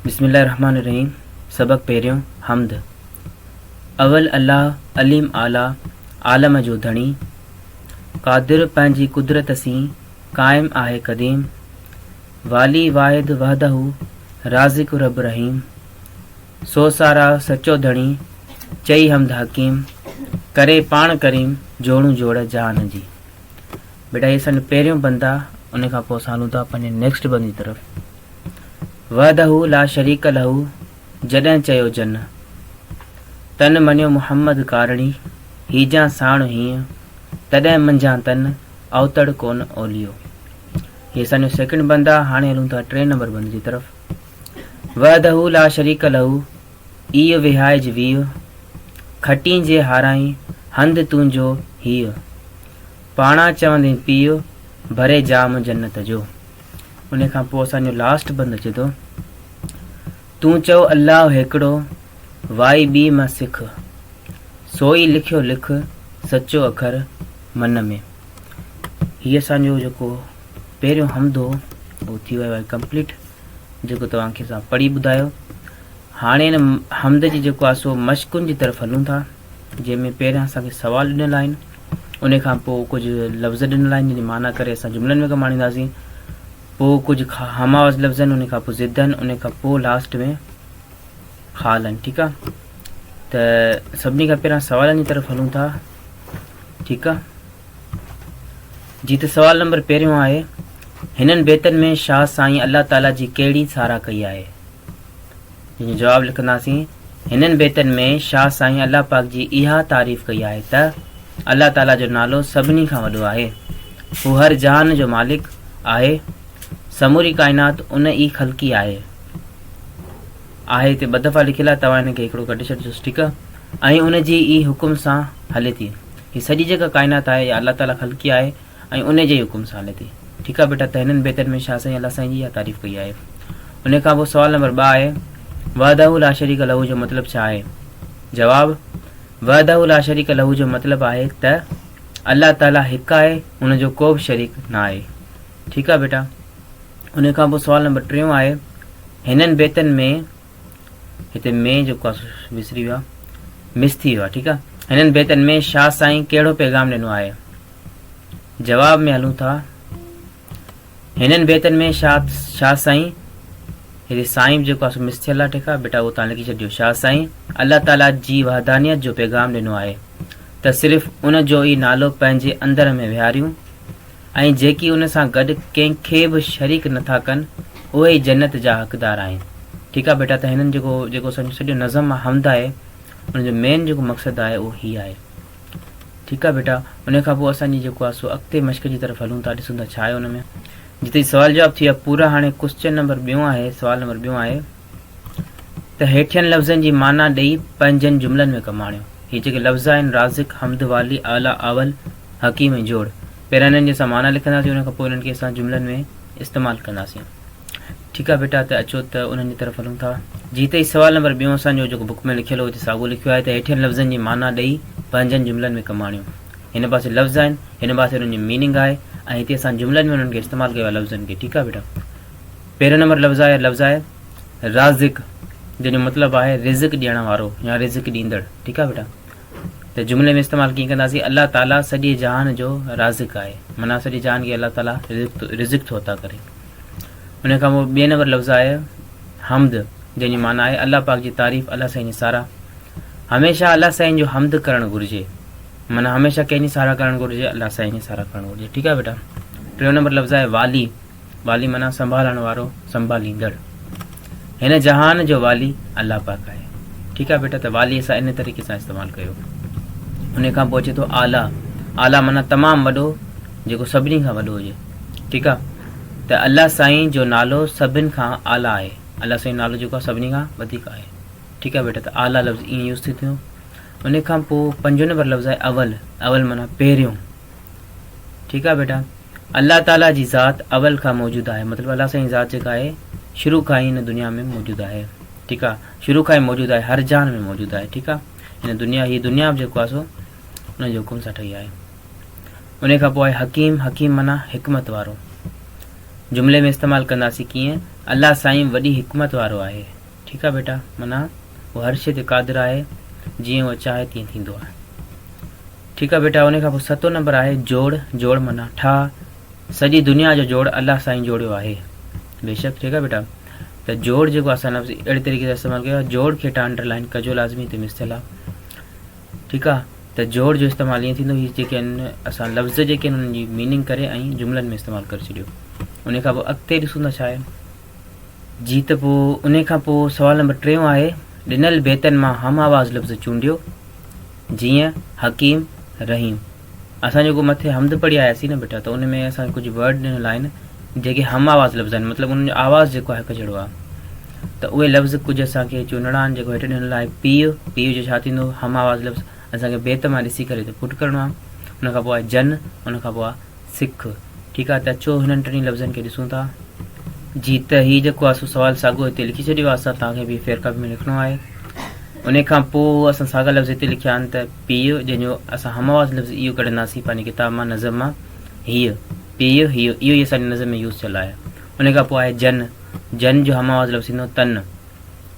بسم الله الرحمٰن الرحيم سبق پهريون حمد اول الله عليم اعليٰ عالم جو ڌڻي قادر پنهنجي قدرت سين قائم آهي قديم والي واحد وحده رازق رب رحيم سو سارا سچو ڌڻي، چئي حمد حڪيم، ڪري پاڻ ڪريم، جوڙون جوڙ جهان جي. بيٽا هي اسان جو پهريون بند آ ان کان پوء اسان هلون ٿا پنهنجي نيڪسٽ بند جي طرف وحده لا شريڪ له جڏهن چيو جن تن مڃيو محمد ڪارڻي هيجان ساڻ هيئن تڏهن منجهان تن اوتڙ ڪون اوليو هي اسان جو سيڪنڊ بند آ هاڻي هلون ٿا ٽين نمبر بند جي طرف وحده لا شريڪ له، ايء وهائج ويء، کٽين جي هارائين، هنڌ تنهنجو هيء. پاڻان چوندين پيء، ڀري جام جنت جو. انهيء کان پوء اسان جو لاسٽ بند اچي ٿو. تون چئو الله هيڪڙو، وائي ٻي مان سک. سوئي لکيو لک، سچو اکر من ۾. هيء اسان جو جيڪو پهريون حمدو اهو ٿي ويو آهي ڪمپليٽ جيڪو توهان کي اسان پڙهي ٻڌايو هاڻي ان حمد جي جيڪو آهي سو مشقن جي طرف هلون ٿا جنهن ۾ پهريان اسان کي سوال ڏنل آهن ان کان پوء ڪجهه لفظ ڏنل آهن جن جي معنيٰ ڪري اسان جملن ۾ ڪم آڻينداسين پوء ڪجهه هم آواز لفظ آهن ان کان پوء ضد آهن ان کان پوء لاسٽ ۾ خال آهن ٺيڪ آهي ته سڀني کان پهريان سوالن جي طرف هلون ٿا ٺيڪ آهي جي ته سوال نمبر پهريون آهي، هنن بيتن ۾ شاهه سائين الله تعاليٰ جي ڪهڙي ساراهه ڪئي آهي؟ جنهن جو جواب لکنداسين، هنن بيتن ۾ شاهه سائين الله پاڪ جي اها تعريف ڪئي آهي ته الله تعاليٰ جو نالو سڀني کان وڏو آهي، هو هر جهان جو مالڪ آهي، سموري ڪائنات ان ئي خلقي آهي. آهي هتي ٻه دفعا لکيل آهي، توهان هن کي هڪڙو ڪڍي ڇڏجوس، ٺيڪ. ۽ ان جي ئي حڪم سان هلي ٿي. هي سڄي جيڪا ڪائنات آهي اها الله تعاليٰ خلقي آهي ۽ انهي جي ئي حڪم سان هلي ٿي. ٺيڪ آهي بيٽا ته هنن بيتن ۾ شاهه سائين الله سائين جي اها تعريف ڪئي آهي. انهي کان پوء سوال نمبر ٻه آهي وحده لا شريڪ له جو مطلب ڇا آهي؟ جواب، وحده لا شريڪ له جو مطلب آهي ته الله تعاليٰ هڪ آهي ان جو ڪو به شريڪ نه آهي. ٺيڪ آهي بيٽا انهي کان پوء سوال نمبر ٽيون آهي هنن بيتن ۾ هتي مين جو ڪا وسري ويو آهي مس ٿي ويو آهي ٺيڪ آهي هنن بيتن ۾ شاهه سائين ڪهڙو پيغام ڏنو آهي جواب ۾ هلون ٿا هنن بيتن ۾ شاهه شاهه سائين هتي سائين جيڪو آسو مس ٿيل آهي ٺيڪ آهي بيٽا اهو تان لکي ڇڏيو شاهه سائين الله تعاليٰ جي وحدانيت جو پيغام ڏنو آهي ته صرف ان جو ئي نالو پنهنجي اندر ۾ ويهاريون ۽ جيڪي ان سان گڏ ڪنهن کي به شريڪ نه ٿا ڪن اهي ئي جنت جا حقدار آهن ٺيڪ آهي بيٽا ته هنن جيڪو جيڪو سڄو نظم آهي حمد آهي ان جو مين جيڪو مقصد آهي اهو هي آهي ٺيڪ آهي بيٽا ان کان پوء اسان جي جيڪو آهي سو اڳتي مشق جي طرف هلون ٿا ڏسون ٿا ڇا آهي ان ۾ جتي سوال جواب ٿي ويا پورا هاڻي ڪوسچن نمبر ٻيون آهي سوال نمبر ٻيون آهي ته هيٺين لفظن جي معنيٰ ڏئي پنهنجن جملن ۾ ڪم آڻيو. هي جيڪي لفظ آهن، رازق، حمد، والي، اعليٰ، اول، حڪيم ۽ جوڙ، پهريان هنن جي اسان معنيٰ لکنداسين، ان کان پوء انهن کي اسان جملن ۾ استعمال ڪنداسين. ٺيڪ آهي بيٽا ته اچو ته انهن جي طرف هلون ٿا. جي ته هي سوال نمبر ٻيون اسان جو جيڪو بڪ ۾ لکيل هو هتي ساڳو لکيو آهي ته هيٺين لفظن جي معنيٰ ڏئي پنهنجن جملن ۾ ڪم آڻيو. هن پاسي لفظ آهن، هن پاسي انهن جي ميننگ آهي ۽ هتي اسان جملن ۾ انهن کي استعمال ڪيو آهي لفظن کي. ٺيڪ آهي بيٽا. پهريون نمبر لفظ آهي لفظ آهي رازق جنهن جو مطلب آهي رزق ڏيڻ وارو يا رزق ڏيندڙ ٺيڪ آهي بيٽا ته جملي ۾ استعمال ڪيئن ڪنداسي الله تعالي سڄي جهان جو رازق آهي منا سڄي جهان کي الله تعالي رزق رزق ٿو عطا ڪري ان کان پوء ٻئي نمبر لفظ آهي حمد جنهن جي معنی آهي الله پاڪ جي تعريف الله سائين جي سارا هميشه الله سائين جو حمد ڪرڻ گهرجي منا هميشه ڪنهن جي سارا ڪرڻ گهرجي الله سائين جي سارا ڪرڻ گهرجي ٺيڪ آهي بيٽا ٽيون نمبر لفظ آهي والي والي معنيٰ سنڀالڻ وارو، سنڀاليندڙ. هن جهان جو والي الله پاڪ آهي. ٺيڪ آهي بيٽا ته والي اسان ان طريقي سان استعمال ڪيو. ان کان پوء اچي ٿو اعليٰ. اعليٰ معنيٰ تمام وڏو جيڪو سڀني کان وڏو هجي. ٺيڪ آهي ته الله سائين جو نالو سڀن کان اعليٰ آهي. الله سائين نالو جيڪو آهي سڀني کان وڌيڪ آهي. ٺيڪ آهي بيٽا ته اعليٰ لفظ ائين يوز ٿي ٿيو. ان کان پوء پنجون نمبر لفظ آهي اول. اول معنيٰ پهريون. ٺيڪ آ بيٽا الله تعالي جي ذات اول کان موجود آهي مطلب الله سائين ذات جيڪا آهي شروع کان ئي هن دنيا ۾ موجود آهي ٺيڪ آ شروع کان ئي موجود آهي هر جان ۾ موجود آهي ٺيڪ آ هن دنيا هي دنيا به جيڪو آهي سو ان جو حڪم سان ٺهي آهي ان کان پوء حڪيم حڪيم منا حڪمت وارو جملي ۾ استعمال ڪنداسي ڪيئن الله سائين وڏي حڪمت وارو آهي ٺيڪ آ ٻيٽا، منا هو هر شيء تي قادر آهي، جيئن هوء چاهي تيئن ٿيندو آهي. ٺيڪ آ ٻيٽا، انهيء کان پوء ستون نمبر آهي جوڙ، جوڙ منا ٺاهه، سڄي دنيا جو جوڙ الله سائين جوڙيو آهي. بيشڪ ٺيڪ آ ٻيٽا، ته جوڙ جيڪو اسان لفظ اهڙي طريقي سان استعمال ڪيو آهي، جوڙ کي هيٺان انڊر لائن ڪجو لازمي تي مثل آ. ٺيڪ آ، ته جوڙ جو استعمال ائين ٿيندو، هي جيڪي آهن اسان لفظ جيڪي آهن انهن جي ميننگ ڪري ۽ جملن ۾ استعمال ڪري ڇڏيو. انهيء کان پوء اڳتي ڏسون ٿا ڇا آهي. جي ته پوء انهي کان پوء سوال نمبر ٽيون آهي، ڏنل بيتن مان هم آواز لفظ چونڊيو، جيئن، حڪيم، رحيم. اسان جيڪو مٿي حمد پڙهي آياسين نه بيٽا ته ان ۾ اسان کي ڪجهه ورڊ ڏنل آهن جيڪي هم آواز لفظ آهن مطلب انهن جو آواز جيڪو آهي هڪ جهڙو آهي ته اهي لفظ ڪجهه اسان کي چونڊڻا آهن جيڪو هيٺ ڏنل آهي پيء پيء جو ڇا ٿيندو هم آواز لفظ اسان کي بيت مان ڏسي ڪري ته پٽ ڪرڻو آهي ان کان پوء آهي جن ان کان پوء آهي سک، ٺيڪ آهي ته اچو هنن ٽنهي لفظن کي ڏسون ٿا. جي ته هي جيڪو آسو سوال ساڳو هتي لکي ڇڏيو آهي سا توهان کي به فير ڪاپي ۾ لکڻو آهي. انهي کان پوء اسان ساڳا لفظ هتي لکيا آهن ته پيء جنهن جو اسان هم آواز لفظ ايء ڪڍنداسين پنهنجي ڪتاب مان نظم مان هيء، پيء، هيء، اهو ئي اسان جي نظم ۾ يوز ٿيل آهي. انهي کان پوء آهي جن، جن جو هم آواز لفظ ٿيندو تن.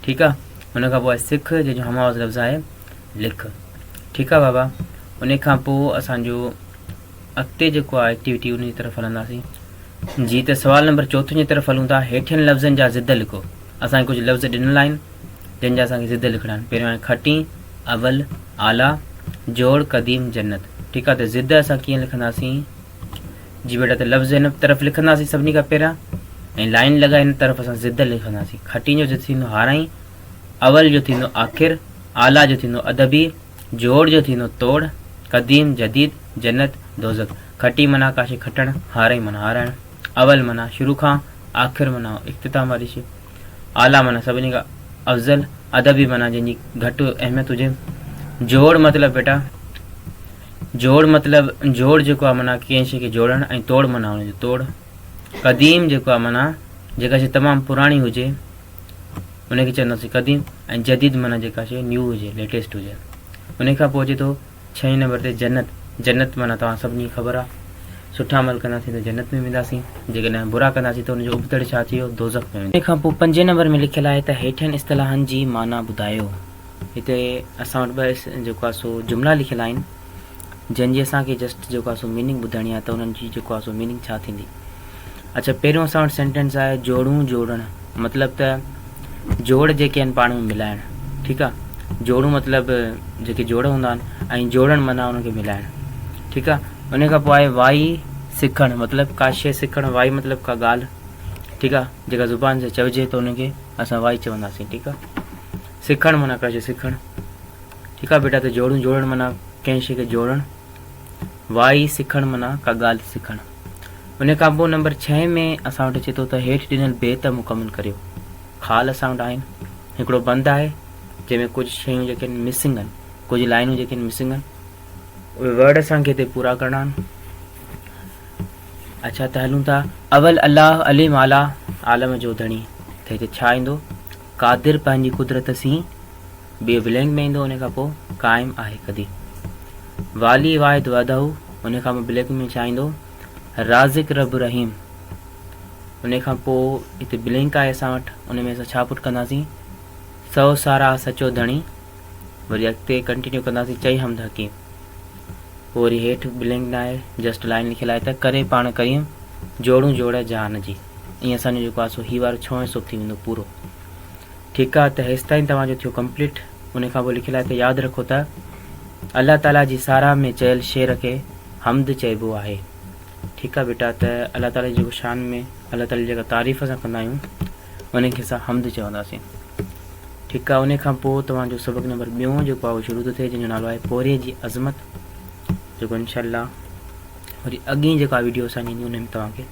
ٺيڪ آهي. ان کان پوء آهي سک جنهن جو هم آواز لفظ آهي لک. ٺيڪ آهي بابا. انهي کان پوء اسان جو. اڳتي جيڪو آهي ايڪٽيوٽي ان جي طرف هلنداسين. جي ته سوال نمبر چوٿون جي طرف هلون ٿا، هيٺين لفظن جا ضد لکو. اسان کي ڪجهه لفظ ڏنل آهن، جن جا اسان کي ضد لکڻا آهن. پهريون آهي کٽين، اول، اعليٰ، جوڙ، قديم، جنت. ٺيڪ آهي ته ضد اسان ڪيئن لکنداسين؟ جي بيٽا ته لفظ هن طرف لکنداسين سڀني کان پهريان ۽ لائن لڳائي هن طرف اسان ضد لکنداسين. کٽين جو ضد ٿيندو هارائين، اول جو ٿيندو آخر، اعليٰ جو ٿيندو ادبي، جوڙ جو ٿيندو توڙ، قديم جديد، جنت دوزخ، کٽي معنيٰ ڪاشي کٽڻ، هارئي معنيٰ هارائڻ، اول معنيٰ شروع کان، آخر معنيٰ اختتام واري شيء، اعليٰ معنيٰ سڀني کان افضل، ادبي معنيٰ جنهن جي گهٽ اهميت هجي. جوڙ مطلب بيٽا جوڙ مطلب جوڙ جيڪو آهي معنيٰ ڪنهن شيء کي جوڙڻ ۽ توڙ معنيٰ ان جو توڙ. قديم جيڪو آهي معنيٰ جيڪا شيء تمام پراڻي هجي. ان کي چونداسين قديم ۽ جديد معنيٰ جيڪا شيء نيو هجي، ليٽيسٽ هجي. انهيء کان پوء اچي ٿو ڇهين نمبر تي جنت، جنت معنيٰ توهان سڀني کي خبر آهي. سٺا عمل ڪنداسين ته جنت ۾ وينداسين، جيڪڏهن برا ڪنداسين ته ان جو ابتڙ ڇا ٿي ويو، دوزخ ۾ وينداسين. انهيء کان پوء پنجين نمبر ۾ لکيل آهي ته هيٺين اصطلاحن جي معنيٰ ٻڌايو. هتي اسان وٽ ٻه جيڪو آهي سو جملا لکيل آهن. جنھن جي اسان کي جسٽ جيڪو آھي سو ميننگ ٻڌائڻي آھي ته انھن جي جيڪو آھي سو ميننگ ڇا ٿيندي. اڇا پهريون اسان وٽ سينٽينس آهي جوڙون جوڙڻ مطلب ته جوڙ جيڪي آهن پاڻ ۾ ملائڻ ٺيڪ آ جوڙون مطلب جيڪي جوڙ هوندا آهن ۽ جوڙڻ معنی انهن کي ملائڻ ٺيڪ آ ان کان پوء آهي وائي سکڻ مطلب ڪا شي سکڻ وائي مطلب ڪا ڳالھ ٺيڪ آ جيڪا زبان سان چوجي ته ان کي اسان وائي چونداسين ٺيڪ آ سکڻ معنی ڪا شي سکڻ ٺيڪ آ بيٽا ته جوڙيون جوڙڻ معنيٰ ڪنهن شيء کي جوڙڻ وائي سکڻ معنيٰ ڪا ڳالهه سکڻ ان کان پوء نمبر ڇهين ۾ اسان وٽ اچي ٿو ته هيٺ ڏنل بيت مڪمل ڪريو خال اسان وٽ آهن هڪڙو بند آهي جنهن ۾ ڪجهه شيون جيڪي آهن مسنگ آهن ڪجهه لائنون جيڪي آهن مسنگ آهن اهي ورڊ اسان کي هتي پورا ڪرڻا آهن اچا ته هلون ٿا اول الله عليم اعليٰ عالم جو ڌڻي ته هتي ڇا ايندو قادر پنهنجي قدرت سين بي بلينگ ۾ ايندو ان کان پوء قائم آهي ڪدي والي واحد وحده ان کان پوء بلينگ ۾ ڇا ايندو رازق رب رحيم ان کان پوء هتي بلينگ آهي اسان وٽ ان ۾ اسان ڇا پٽ ڪنداسين سو سارا سچو ڌڻي وري اڳتي ڪنٽينيو ڪنداسين چئي حمد حڪيم پوء وري هيٺ بلينگ نه آهي جسٽ لائن لکيل آهي ته ڪري پاڻ ڪريم جوڙون جوڙ جهان جي ائين اسان جو جيڪو آهي سو هي وارو ڇهون حصو ٿي ويندو پورو ٺيڪ آ ته هيستائين توهان جو ٿيو ڪمپليٽ انهي کان پوء لکيل آهي ته ياد رکو ته الله تعالي جي ساراهه ۾ چيل شعر کي حمد چئبو آهي ٺيڪ آ بيٽا ته الله تعالي جي جيڪو شان ۾ الله تعالي جي جيڪا تعريف اسان ڪندا آهيون انهي کي اسان حمد چونداسين ٺيڪ آ انهي کان پوء توهان جو سبق نمبر ٻيون جيڪو آهي اهو شروع ٿو ٿئي جنهن جو نالو آهي پورهيي جي عظمت جيڪو انشاء الله وري اڳين جيڪا ويڊيو اسان جي ايندي انهي ۾ توهان کي